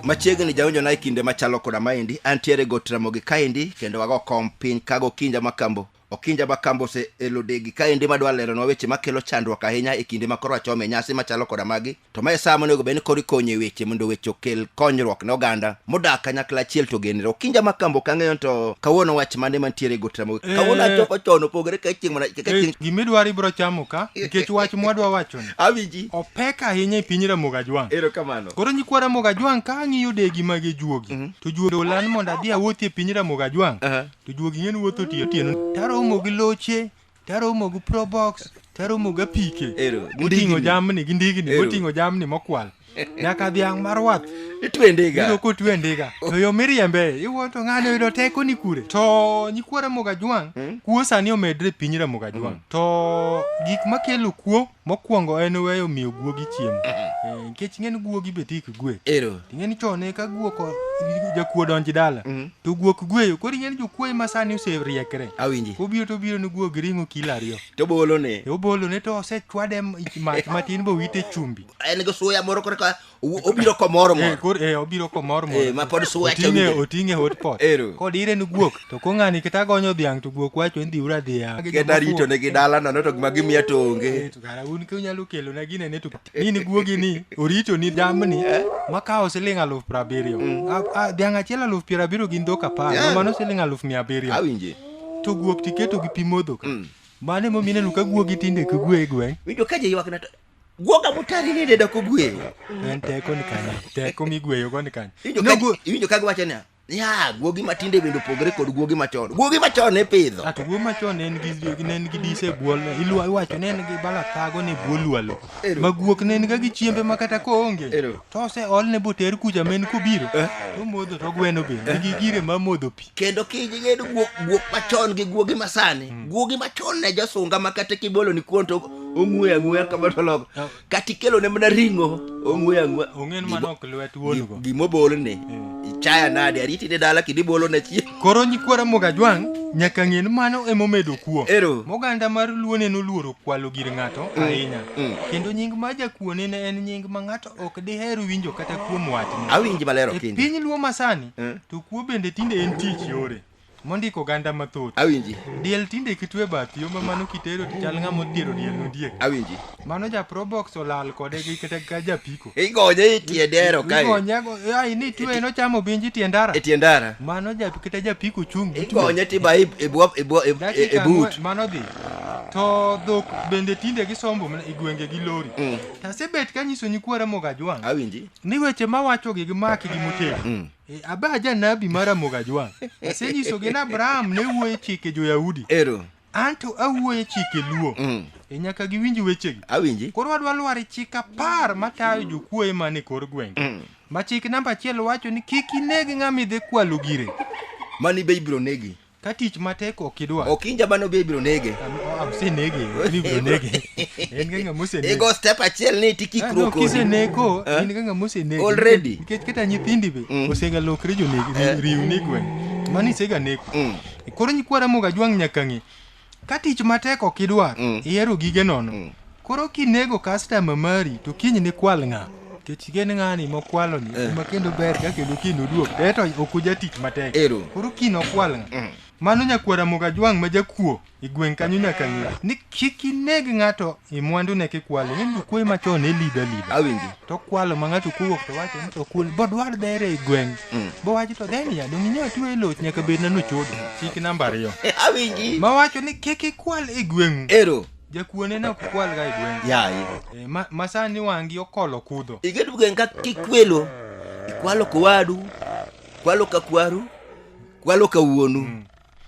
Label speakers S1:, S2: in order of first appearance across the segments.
S1: machiegni jaonjo na e kinde machalo koda maendi antiere got ramogi kaendi kendo wago kom piny kago kinja makambo okinja makambo ose elodegi kaendi madwa leronwa weche makelo chandruok ahinya e kinde makoro achome nyasi machalo koda magi to ma e sama onego bed ni koro ikonyo e weche mondo weche okel konyruok ne oganda modak kanyakla achiel to genre okinja ma kambo ok ang'eyo to kawuono wach mane mantiere e gotra mogik Eh. kawuono achoko chon opogore ka chieng' mana ka Eh, chieng' gima idwaro ibiro
S2: chamo ka nikech wach mwadwa wachoni awinji opek
S1: ahinya e piny
S2: ramoga jwang' erokamano koro nyikwa
S1: ramoga
S2: jwang' ka ang' iyude gima gi juogi to juogi olan mondo adhi awuothi e piny ramoga jwang' Aha. to juogi ng'en wuotho otiyo otieno taromo gi loche taromo gi probox taromo gi apike Ero, gi moting'o ndigni. jamni gi ndigni Ero. moting'o jamni mokwal nyaka dhiang' mar wath Itwe ndiga. yudo
S1: kotwe ndiga
S2: to yo miriembe iwuo to ng'ani oyudo teko ni kure to nyikwa ramoga jwang' kuo sani omedre e piny ramoga jwang' to gik makelo kuo Mokwongo en weyo miyo guogi chiemo. Eh, Nikech ing'e ni guogi be tik gwe. Ero. Ing'e ni chon e ka guok o- jakuo donj dala to guok gweyo. Koro ing'e ni jokuoye ma sani oseriekre. Awinji. Obiro to
S1: obiro ni guog
S2: ring'o kilo ariyo. To bolone. E
S1: obolone to
S2: osechwade m- mach matin bowite chumbi. En gi suya moro
S1: korka O- obiro komoro Eh, moro kor- eh, obiro komor mor.
S2: Eh, ma pod suwacho Oting'e- winjo.
S1: oting'e hot pot
S2: Ero. kod ire ni guok to kong'ani kata agonyo dhiang' to guok wacho ni dhiura dhiang' kenda rito ne gi dala
S1: nono to gima gimiya to onge To kara un ka unyalo
S2: kelo na gine ne to ni ni guogi ni orito ni jamni makawo siling aluf piero abiriyo A- a- dhiang' achiel aluf piero abiriyo gin dhok apar Yeah. ma mano siling aluf mia abiriyo awinje to
S1: guok tiketo
S2: gi pi modho ka mano emomiyo ineno ka guogi tinde kigwe e gweng' winjo ka ji ywakna to
S1: Guoga motari ni deda kogweyo. En teko ni
S2: kanyo. Teko migweyo go ni kanyo. Iwinjo ka giwacho
S1: niya, ya guogi matinde bende opogore kod guogi machon guogi machon ne pidho ato guogi machon ne
S2: nigi ne nigi dise buol ilwa iwacho ne nigi bala thago ne buol lwalo ma guok ne nigi gi chiembe ma kata ko onge to se ol ne boter kuja men kobiro eh? to modho to gweno be nigi gire ma modho pi kendo kigedo
S1: guok guok machon gi guogi masani mm. guogi machon ne jasunga ma kata kibolo ni kuon to ong'we ang'we kama to loko oh. kata ikelo ne mana ring'o ong'we ang'we ong'en mana ok
S2: lwet wuon go gimo bol ni eh.
S1: ichaya nade ariti ne dala kidi bolo ne chi koro nyikwara moga
S2: jwang nyaka ng'en mano emo medo kuo ero moganda mar luone no luoro kwalo gir ng'ato mm. ahinya mm. kendo nying ma jakuone ne en nying ma ng'ato ok diher winjo kata kuom wachne awinji malero e kinde piny
S1: luo masani mm.
S2: To kuo bende tinde en tich yore mondiko oganda mathoth. Awinji. Diel
S1: tinde kitwe
S2: bath yo ma mano kitero to chal ng'ama othiero diel nodiek. Awinji. Mano ja
S1: probox
S2: olal kode gi kata ka japiko. Igonye itie
S1: dero kae. Igonye go ai ni
S2: twe no chamo binji tie ndara. Tie ndara. Mano
S1: ja kata
S2: japiko chung. Igonye ti bai
S1: e bwo e bwo e but. Mano dhi.
S2: To dhok bende tinde gisombo e gwenge gi lori. Mm. Tasebet kanyisoni kwara mogajwang'. Awinji. ni weche
S1: mawachogi
S2: gimaki gi motegno Eh, aba janabi mar Ramogi Ajwang' asenyisogi ni Abraham ne wuoyo e chike jo-Yahudi ero anto awuoyo e chike Luo Mm. e nyaka giwinj wechegi awinji koro wadwa lwar
S1: e chik
S2: apar matayo jokuoye man e kor gwenge ma chik namba achiel wacho ni kik ineg ng'ama idhi kwalo gire mani be ibiro
S1: negi Ka tich matek
S2: ok idwa. Ok in jabano be ibiro
S1: nege. Osenege,
S2: ni ibiro nege. En ga ng'ama osenege. Igo step achiel ni
S1: tikikruok kodi. Kiseneko,
S2: in ga ng'ama osenege. Already. Nikech kata
S1: nyithindi
S2: be osegalokre jonege, riwni gweng'. Mano iseganeko. Koro nyikwa Ramogi Ajwang' nyaka ng'e Ka tich matek ok idwar, mm. ihero gige nono. Mm. Koro kinego customer mari to kiny ni kwal ng'a? Kech gen ng'ani mokwalo ni eh. ma kendo ber ka kendo kiny oduok. Eto ok uja tich matek. Ero. Koro kiny okwal ng'a? Mm. Mano nyakwara Mogajwang' ma jakuo e gweng' kanyo nyaka ng'e ni kik ineg ng'ato E mwandu ne kikwalo, in kwe machon ne lido alido. Awinji. To kwalo
S1: ma ng'ato
S2: kowuok to wacho ni to kul bo dwar dere e gweng'. Mm. Bo wacho to deni ya dongi nyo tuwe loch nyaka bed na nuchudo. Chik namba ariyo. Eh, awinji. Ma wacho
S1: ni kiki
S2: kwal e gweng'u. Ero. Jakuone na kukwal ga e gweng'u. Ya. E, eh, ma, ma
S1: sani wangi
S2: okolo kudho. Igedu gweng' ka
S1: kikwelo. Ikwalo kowadu. Kwalo ka kwaru. Kwalo ka wuonu. Mm.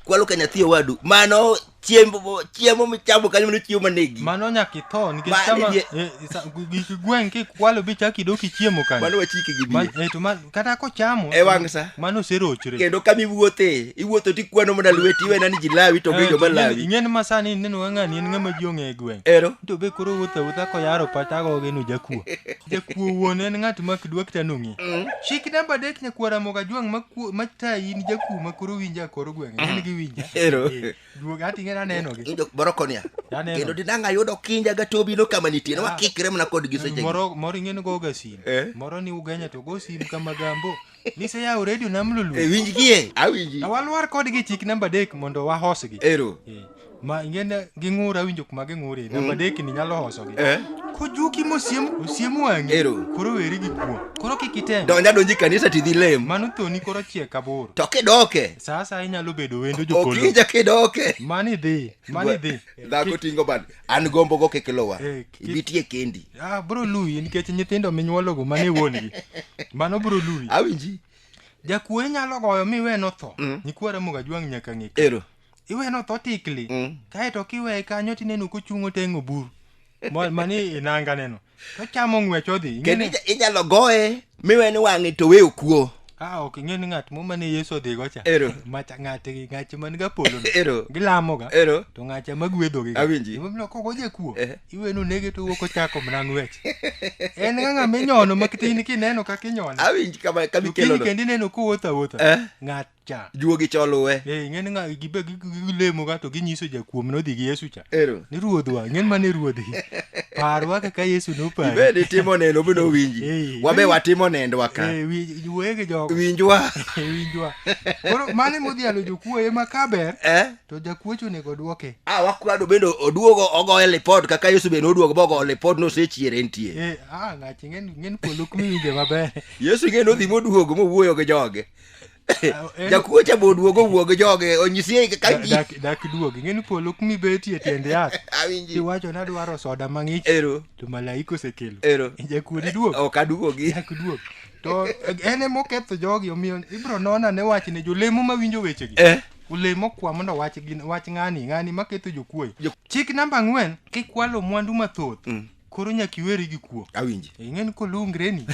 S1: kwalo ka nyathi owadu mano chiemo chiemo michamo kanyo mano chiemo manegi mano nyaka itho
S2: nikech Ma- sama nie- eh, sa- gik gweng' kikwalo bi chak idok ichiemo kanyo mano wachike gi Ma- biye
S1: eh, to ma- kata kochamo
S2: E wang' sa. mano
S1: oserochre kendo
S2: kama iwuothe
S1: iwuotho tikwanyo mana lweti iwena ni ji lawi to Eh, gijo to ma ing'e- lawi ing'e ni ma sani ineno
S2: ka ng'ani en ng'ama ji ong'e e gweng' ero to be koro wuotho awuotha koyaro patago geno jakuo Jakuo wuon en ng'at ma kidwa kita nong'e. Mm. Chik namba adek nyakuo Ramogi Ajwang' ma kuo ma tayi in jakuo ma koro winja kor gweng'. En gi winja. Ero. Eh, Duog ati ng'e aneno gi. Injo borokonia.
S1: Aneno. Kendo dinang ayudo kinja ga tobi no kama nitie. Ah. Wakikre mana kod gi seche. gi. Moro moro ing'e ni go ga
S2: sim. Eh. Moro ni ugenya to go sim kama gambo. Niseyawo redio nam lulu. E winj gie,
S1: awinji. To walwar kodgi chik
S2: namba adek mondo wahosgi. Ero. Eh,
S1: ma ing'e
S2: ging'ur awinjo kuma ging'ure. Mm. Namba adek ni nyalo hosogi. Eh. Kojuki mosiem osiem wang'i. Ero. Koro weri gi kuo. Koro kik item. Donja donji kanisa tidhi
S1: lem. Mano thoni koro chiek
S2: aboro. To kidoke.
S1: Sasa inyalo bedo
S2: wendo jopolo. Okija kidoke.
S1: Mani dhi.
S2: Mani dhi. Dhako
S1: tingo bad. An gombo go kikilowa. Eh. ibitie kendi ah, bro lui
S2: nikech nyithindo minyuologo mane wuongi mano bro lui awinji
S1: jakuoe
S2: nyalo goyo mi iwe notho mm. nyikwa ramoga jwang' nyaka ng'e ero iwe notho tikli mm. kaeto kiweye kanyo tineno kochung' oteng' obur mani inanga neno tochamo ng'wech odhi kendo inyalo goye
S1: miwe ni wang'e to we okuo a ok ing'e ni ng'at
S2: mo mane yesu odhigo cha Ero. macha ng'ate
S1: gi
S2: ng'ache man ga polo no. Ero. gilamoga
S1: Ero.
S2: to ng'acha ma
S1: gwedhogi
S2: Awinji. koko
S1: jakuo
S2: Eh. iwenu nege to wuok ochako mana ng'wech en ga ng'ama inyono ma kitin kineno kaka inyone awinj kama kama to kiny ikelono
S1: kendo ineno kowuotho
S2: awuotha Eh. ng'at cha juogi cha oluwe
S1: eh ing'eni ng'a gibe
S2: gi- gi- gilemo ka to ginyiso jakuom nodhi gi yesu cha ero ni ruodhwa ing'eni
S1: mane
S2: ruodhi parwa kaka yesu nopari ibed itimo neno bino
S1: Eh. winji wabe watimo nendwa ka Eh, wi- wege jogo
S2: winjwa Eh,
S1: winjwa
S2: koro mane modhialo jokuo ema kaber eh to jakuoch onego dwoke a wakwado bende
S1: oduogo ogoye lipod kaka yesu bende oduogo bogoyo lipod nosechiere entie Eh, ah, ng'achi ng'en
S2: ng'en polo kumiwinje maber yesu ing'e nodhi
S1: moduogo mowuoyo gi joge jakuo cha bo duogo wuog joge onyisie ka ji dak dak duogi ng'eni
S2: polo kumi betie tiend yath awinji iwacho ni
S1: adwaro soda
S2: mang'ich ero to malaika
S1: osekelo
S2: ero jakuodi
S1: duog ok
S2: aduogi dak
S1: duog to
S2: en ema oketho jogi omiyo ibro nona ne wach ne jolemo ma winjo wechegi eh olemo kwa mondo wach gin wach ng'ani ng'ani maketho jokuoye Jo- chik namba ang'wen kikwalo mwandu mathoth Mm. koro nyaka iweri gi kuo awinji Eh, ing'eni
S1: kolungreni
S2: to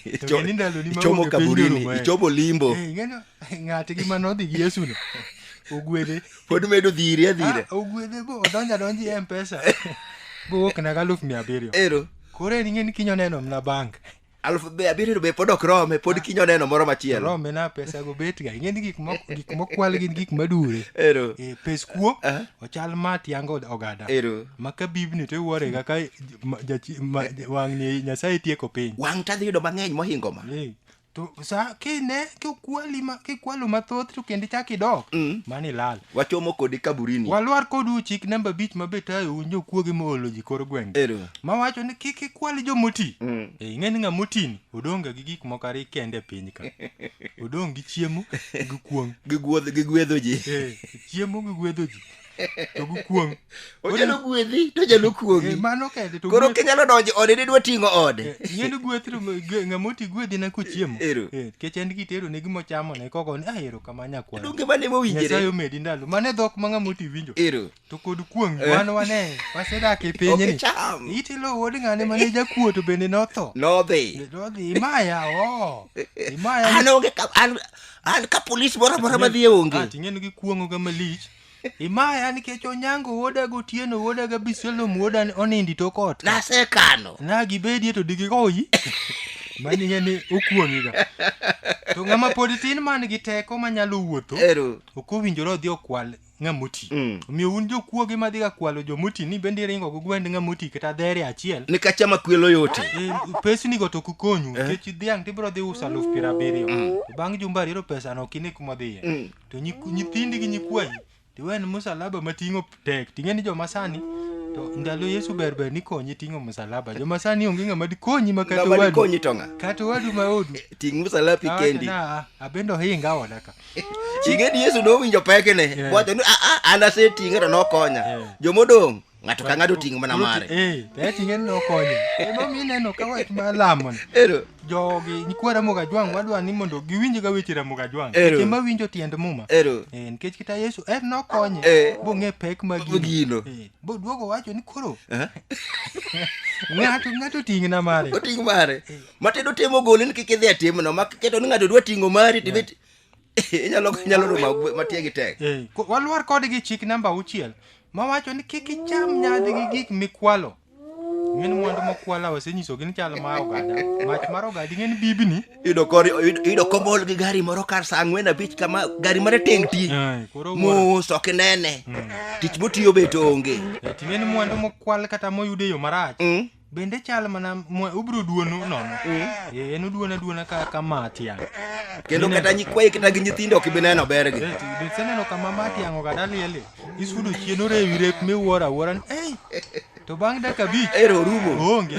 S2: Icho- ng'eni ndaloni ma ichomo onge piny kaburini norumo, eh.
S1: ichomo limbo Eh, ing'eni
S2: ng'ate gi mane odhi gi yesuno ogwedhe pod medo dhiri
S1: adhira Ah, ogwedhe bo
S2: odonjo adonji e mpesa bowuok naga aluf mia abiriyo ero koro en
S1: ing'eni kinyo
S2: neno mna bank aluf be abiriyo to
S1: be pod ok rome pod kinyo neno moro machielo rome na pesa go bet
S2: ga ing'eni gik mo- gik mokwal gin gik madure ero e, pes
S1: kuo Aha.
S2: ochal ma tiango od ogada ero ma ka bibni
S1: to iwuore
S2: ga ka ma- jachi- ma- wang'ni nyasaye tieko piny wang' tadhi yudo mang'eny
S1: mohingo ma Eh, to sa
S2: kine kikwali ma kikwalo mathoth to kendo ichak idok Mm. mani lal Wachomo kodi kaburini.
S1: Walwar kodu chik
S2: namba abich ma be tayo un jokuoge moolo ji kor gwenge. Ero. Ma wacho ni
S1: kik
S2: ikwal jomoti. Mm. E, ing'e ni ng'ama otini odong' ga gi gik moko ariyo kende e piny ka. Odong' gi chiemo gi kuong'. Gigwedho gigwedho
S1: ji. Eh, chiemo gi
S2: gwedho ji. To gi kuong'. onyalo gwedhi
S1: to onyalo kuogi Eh, mano kende to koro gweth-
S2: kinyalo donjo ode
S1: didwa ting'o ode Eh, yiend gweth to m-
S2: gwe- ng'ama oti gwedhi na kochiemo Ero. Eh, nikech en
S1: gitero ne
S2: gima ochamo ne kogo ni ahero kama nyakwaro donge mane nyasaye mowinjire
S1: omedi ndalo mane
S2: dhok ma ng'ama oti winjo ero to kod
S1: kuong'
S2: Eh. wan wane wasedak e piny ni okicham itilo wuod ng'ane mane jakuo to bende notho nodhi nodhi
S1: imaya
S2: o imaya an onge ka- an-
S1: an ka polis moro amora madhi e onge ting'en gi kuong'o ga
S2: malich Imaya nikech Onyango wuoda gotieno wuoda ga Bisolom wuoda onindi to kot. Nasekano. Na
S1: gibedie to
S2: digigoyi. Mani ng'e ni okuong'iga. To ng'ama pod tin man gi teko manyalo wuotho. Ero. Ok owinjore
S1: odhi okwal
S2: ng'amoti. Mm. Omiyo un jokuoge madhi ga kwalo jomoti ni bende iringo go gwend ng'amoti kata dhere achiel. Ni kacha ma kwelo
S1: yote. E, pesni go to
S2: ok konyu. Eh? Nikech dhiang' tibiro dhi uso aluf piero abiriyo. Mm. Bang' jumba ariyo pesano ok ine kuma dhiye. Mm. to nyiku- nyithindi gi nyikwayi tiwe ni musalaba mating'o tek ting'e ni joma sani to ndalo yesu ber ber nikonyi ting'o musalaba joma sani onge ng'ama dikonyi ma kata ng'ama owadu dikonyi to ng'a kata
S1: owadu ma odu
S2: ting' musalapi Awacho
S1: kendi na, abendo hinga
S2: oda ka ing'e ni yesu
S1: nowinjo pekene Yeah. wacho ni "Ah, ah, an aseting'e to nokonya Yeah. jomodong' ng'ato ka ng'ato ting' mana mare eh to ting'e no
S2: konyo ema mi neno ka wach ma lamo ni ero jogi
S1: nyikwa
S2: Ramogi Ajwang' wadwa ni mondo giwinj ga weche Ramogi Ajwang' Ero. seche ma winjo tiend muma ero Eh, nikech kita
S1: Yesu
S2: en nokonye Eh. bong'e pek ma Gino. gino Eh,
S1: boduogo
S2: wacho ni koro Eh? ng'ato ng'ato ting'na mare oting' mare
S1: matindo temo gole ni kik idhi atimno ma keto ni ng'ato dwa ting'o mari tibet inyalo inyalo ruma matie gi tek Eh, ko- walwar kodgi
S2: chik namba auchiel mawacho ni kik icham nyadhi gi gik mikwalo ng'en mwandu mokwala osenyisogi ni chal ma ogada mach mar ogadi ng'en bibni yudo kor yudo- yudo
S1: komol gi gari moro kar saa ang'wen abich kama gari mare teng ti Eh, koro wuoro. mos ok inene tich motiyo bet onge Eh, ting'en mwandu
S2: mokwal kata moyud e yo marach Mm. bende chal mana mwa- ubiro duonu nono Eh, en uduona duona ka ka matiang kendo Ineno- kata
S1: nyikwayi kata gi nyithindo ok ibi neno bergi Eh, ti- be seneno kama
S2: matiang ogada lieli isudo chien orewi rep miwuoro awuora ni ei to bang' dakika abich ero orumo onge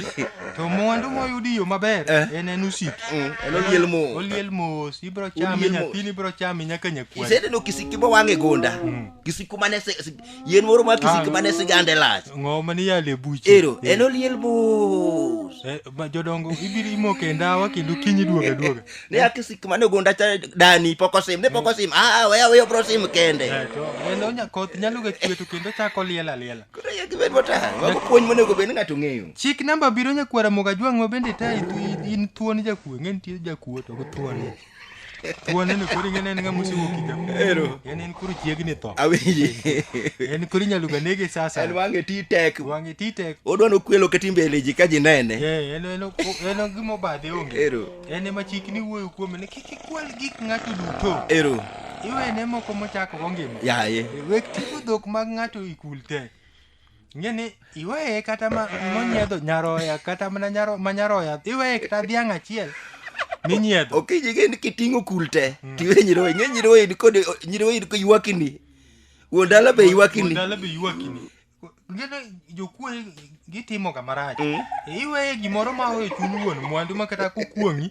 S1: to
S2: mwandu moyudi yo maber Eh. en en usiki Mm, en oliel mos. oliel mos ibiro chame Oliel mos. nyathini ibiro chame nyaka nyakwani iseneno kisiki mowang'
S1: e gonda kisiku mane se- se- yien moro ma kisiki Ah. mane sigande lach ng'o mane yale buche
S2: ero Eh, en oliel
S1: mos eh, ma jodongo
S2: ibiro imoke e ndawa kendo kinyi duoga duoga ne akisik mane
S1: ogunda cha dani pok osim ne pok osim aa weya weya obro sim kende Eh, to en onya
S2: koth nyalo ga chwe to kendo chako liel aliela koro ya gibed
S1: motang mago puonj monego bed ni ng'ato ng'eyo chik namba biro nyakwara
S2: moga jwang' ma bende ta in thuon jakuo ng'e nitie jakuo to ok thuon Tuoneno koro ing'e ne en ng'ama osewuok higa moro. Ero. En en koro
S1: chiegni
S2: tho. awinji
S1: En koro inyalo
S2: ga nege sasa. en wang'e ti tek
S1: Wang'e ti tek. odwa nokwelo ka timbe e leji ka ji nene Eh, en en
S2: en gima obadhe onge. Ero. En ema chikni wuoyo kuome ni kik ikwal gik ng'ato duto. ero
S1: Iwene moko
S2: mochako go ngima. yaye Wek timo
S1: dhok
S2: mag ng'ato ikul te. Ng'e ni iweye kata ma monyiedho nyaroya kata mana nyaro ma nyaroya iweye kata dhiang' achiel minyiedho. Okinyi ing'e ni
S1: kiting'o kul te tiwe nyiroye ing'e nyiroye ni kod nyiroye ni ywakini. Wuon dala be ywakini. Ndalo be ywakini.
S2: Ng'e ni jokuo gitimo ga marach. Mm. Iweye gimoro ma oyo chuny wuon mwandu ma kata kokuong'i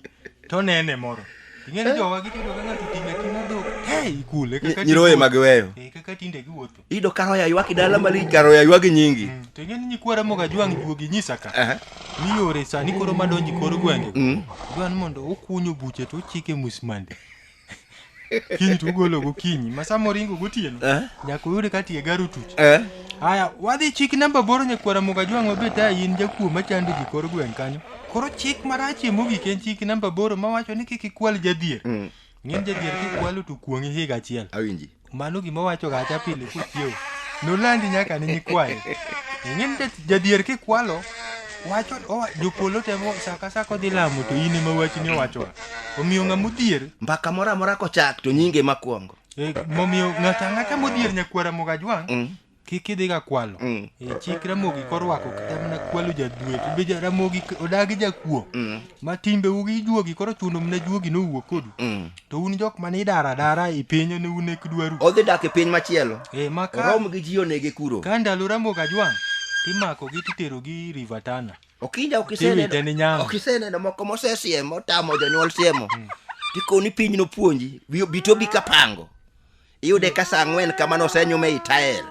S2: to nene moro. Ing'e ni jowa gitindo ka ng'ato ting'o ting'o dhok. Hey kule kaka Nyiroye ma giweyo.
S1: Eh, kaka tinde giwuotho.
S2: Iyudo ka roya ywak
S1: dala malich ka roya ywak nyingi. Mm, to ing'e ni nyikwa Ramogi
S2: Ajwang' juogi nyisa ka Aha. ni yore sani koro madonji kor gwenge Mm. dwa ni mondo ukunyo buche to uchike musmande kiny to ugolo gokinyi ma sama oringo gotieno Eh. nyaka uyude ka tie garo tuch Eh. haya wadhi chik namba boro nyakwara moga jwang' wabet a in jakuo machando ji kor gweng' kanyo koro chik marachie mogik en chik namba boro mawacho ni kik ikwal jadhier Mm. Ng'eny jadier kikwalo to kuong'i higa achiel. awinji Mano gima
S1: wacho ga
S2: acha pile kuchiew. Nolandi nyaka ne nyikwaye. Ng'eny ja- jadier kikwalo wacho owa- jopolo temo saka saka odhi lamo to in ema wachni owachoga. Omiyo ng'ama odhier mbaka moro amora
S1: kochak to nyinge makwongo Eh, momiyo
S2: ng'ato ang'ata modhier nyakwara mogajwang' Mm. kik idhi ga kwalo Mm. Eh, chik ramogi korwako kata mana kwalo jadwe to be ja- ramogi k- odagi jakuo Mm. ma timbe ugi juogi koro chuno mna juogi nowuok kodu Mm. to un jok mane idara adara e pinyo ne un ek dwaru odhi dak e piny machielo
S1: e ma ka orom gi ji
S2: onege
S1: kuro ka ndalo ramogi ajwang'
S2: timakogi titerogi river tana okinja ok Tiwite
S1: ni iseneno nyama. ok iseneno moko mosesiem otamo jonyuol siemo tikoni piny nopuonji bi- bitobi kapango iyude ka sa ang'wen kamano osenyume i tael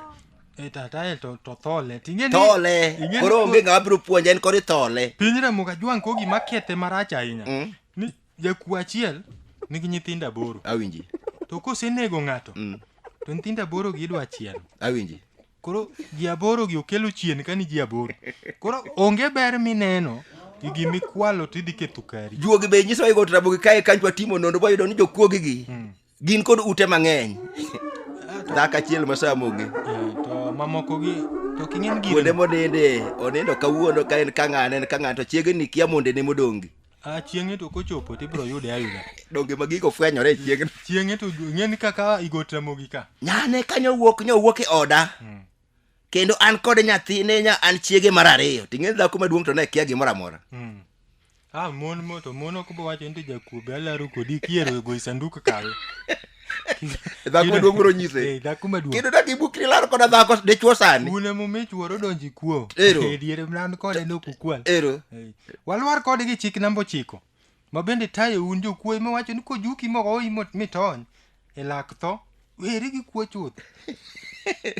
S1: e ta tael
S2: to to thole ting'e ni thole ing'e ni koro
S1: onge ng'ama biro puonje en koro ithole piny ramogi ajwang' ko
S2: gima kethe marach ahinya Mm. ni jakuo achiel nigi nyithindo aboro awinji to
S1: kosenego
S2: ng'ato Mm. to nyithindo aboro gi idwa chiel awinji
S1: koro ji
S2: aboro gi okelo chien ka ni ji aboro koro onge ber mineno gi gima ikwalo to idhi ketho kari juogi be nyiso igot
S1: rabogi kae kanyo twatimo nonro wayudo ni jokuogigi gin kod ute mang'eny dhako achiel masamogi to
S2: mamokogi to king'en gire kuonde moninde
S1: onindo kawuono ka en kang'ane en kang'ane to chiegni kia mondene modongi a chieng'e to
S2: kochopo to ibiro yude ayuda donge ma gigo
S1: fwenyore e chiegni chieng'e to
S2: ing'eni kaka igot ramogi ka nyane kanyo wuok
S1: nyo wuok e oda kendo an kod nyathine nya an chiege mar ariyo ting'e dhako maduong' to ne kia gimoro amora Mm. Ah, mon mo to
S2: mon ok bo wacho ni jakuobe alaro kodi kiero go sanduku kawe.
S1: dhako maduong' biro nyise Eh, dhako maduong'. kendo dak ibukri laro koda dhako dichwo sani Un emo mich wuoro
S2: donji kuo. Ero. Eh, diere mlan kode no kukwal. ero Eh, Walwar kode gi chik namba ochiko. ma bende tayo un jokuoyi mawacho ni kojuki mogoyi mo- mitony e lak tho weri gi kuo chuth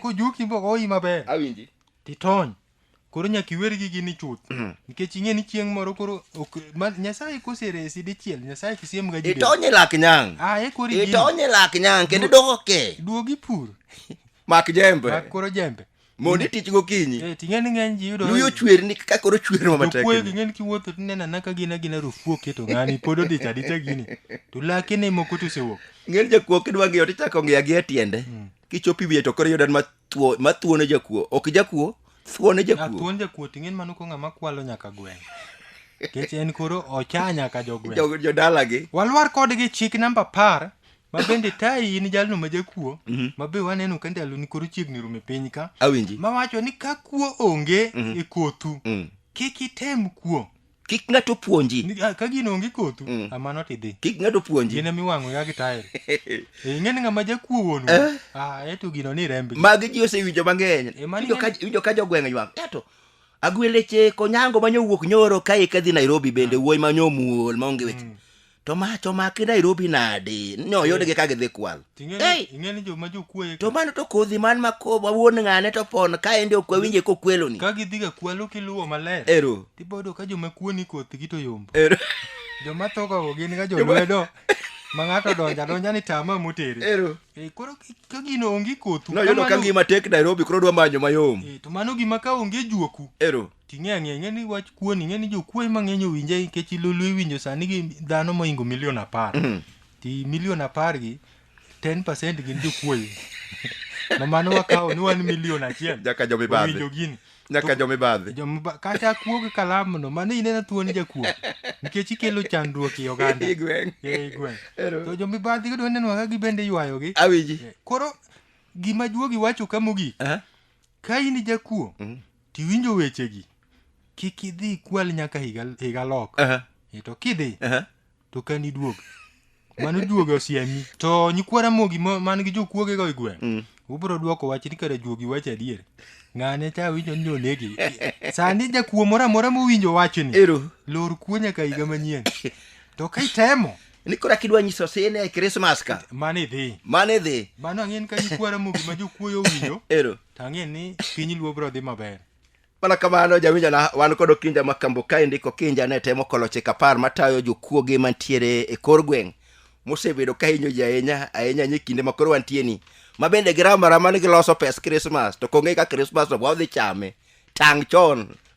S2: kojuki mogoyi maber awinji titony koro nyaka iwer gi gini chuth nikech ing'e ni chieng' moro koro ok ma, nyasaye koseresi dichiel nyasaye kisiem ga jide itonye lak nyang ah
S1: e kori gini itonye lak nyang kendo idoko ke duogi pur
S2: mak
S1: jembe mak koro jembe
S2: mondo itich gokinyi
S1: Eh, ting'e ni ng'eny ji yudo
S2: luyi ochwer ni kaka koro
S1: chwer ma matek jokuoyo gi ng'eny kiwuotho to ineno
S2: anaka gin agina rufu oketo ng'ani pod odich adicha gini to lake ne moko to osewuok ng'eny jakuo kidwa
S1: ng'iyo tichako ng'iyo gi e tiende kichopo iwiye to koro yudan mathuo- mathuo ne jakuo ok jakuo thuo ne jakuo athuon jakuo ting'e ni mano
S2: ko ng'ama kwalo nyaka gweng' kech en koro ocha nyaka jogweng' Jo- jodalagi walwar
S1: kodgi chik
S2: namba apar ma bende tayi in jalno ma jakuo Mhm. ma be waneno ka ndaloni koro chiegni rume piny ka awinji ma wacho ni
S1: ka kuo
S2: onge Mhm. e kothu Mm. kik item kuo kik ng'ato
S1: puonji Ni- ah, ka gino onge kothu
S2: Mm. amano tidhi kik ng'ato puonji gine
S1: miwang'o ya gi tael
S2: ing'eni ng'ama jakuo wuonu Eh. ah eto gino ni rembi magi ji osewinjo
S1: mang'eny Eh, mani Winjo ka- ng'eny. winjo ka jogweng' ywak eto agweleche konyango manyowuok nyoro kae kadhi nairobi bende wuoyi manyomuol maonge weche Mm. to mach omaki nairobi nadi nyoyudgi ka gidhi kwal Ei! ing'eni joma
S2: jokuoye to mano to kodhi man
S1: ma ko- ma wuon ng'ane to pon ka endi ok wawinje kokweloni ka gidhiga kwalo
S2: kiluwo maler ero tibodo ka
S1: joma kuoni
S2: kothgi to yombo ero joma
S1: thoga
S2: go gin ga jolwedo ma ng'ato donja donja ni tama motere ero Eh, koro
S1: ki- ka
S2: gino onge kothu noyudo ka kamano- ngima tek
S1: nairobi koro dwa manyo mayom Eh, to mano gima ka
S2: onge juoku ero Ting'e ang'e,
S1: ing'e ni wach
S2: kuon, ing'e ni jokuoe mang'eny owinje nikech ilulu iwinjo sani gi dhano moingo milion apar. Ti milion apar gi 10% gin jokuoe. Ma mano wakawo ni wan milion achiel. Nyaka jomibadhi. Owinjo
S1: gini. Nyaka
S2: To- jomibadhi.
S1: Jomba- kata kuo gi
S2: kalamu no mano inena thuon jakuo nikech ikelo chandruok i oganda I gweng'. Eh, i gweng'
S1: Ero. to
S2: jomibadhi yudo neno kaka gibende ywayogi Awinji. koro gima juogi wacho ka mogik Eh? ka in jakuo tiwinjo wechegi kik idhi ikwal nyaka higa, higa lok Aha, e to kidhi aha. to kan iduog mano juogi osiemi to nyikwa ramogi ma- man gi jokuogego e gweng' Mm. ubiro dwoko wach ni kare juogi wacho adier ng'ane cha winjo ni onegi sani jakuo moro amora mowinjo wachni Ero. lor kuo
S1: nyaka higa
S2: manyien to ka itemo ni kora kidwa nyiso
S1: sine e krismas ka mane idhi mane
S2: idhi mano ang'e ni ka nikwa ramogi ma jokuoyo owinjo ero to ang'e ni
S1: piny
S2: luo biro dhi maber mana kamano
S1: jawinjona wan kod okinja ma kambo kae ndiko kinja ne temo kolo chik apar matayo jokuoge mantiere e kor gweng' mosebedo ka hinyo ji ahinya ahinya ahinya e kinde ma koro wantie ni ma bende giramara mane giloso pes krismas to kong'e ka krismas to wadhi chame tang' chon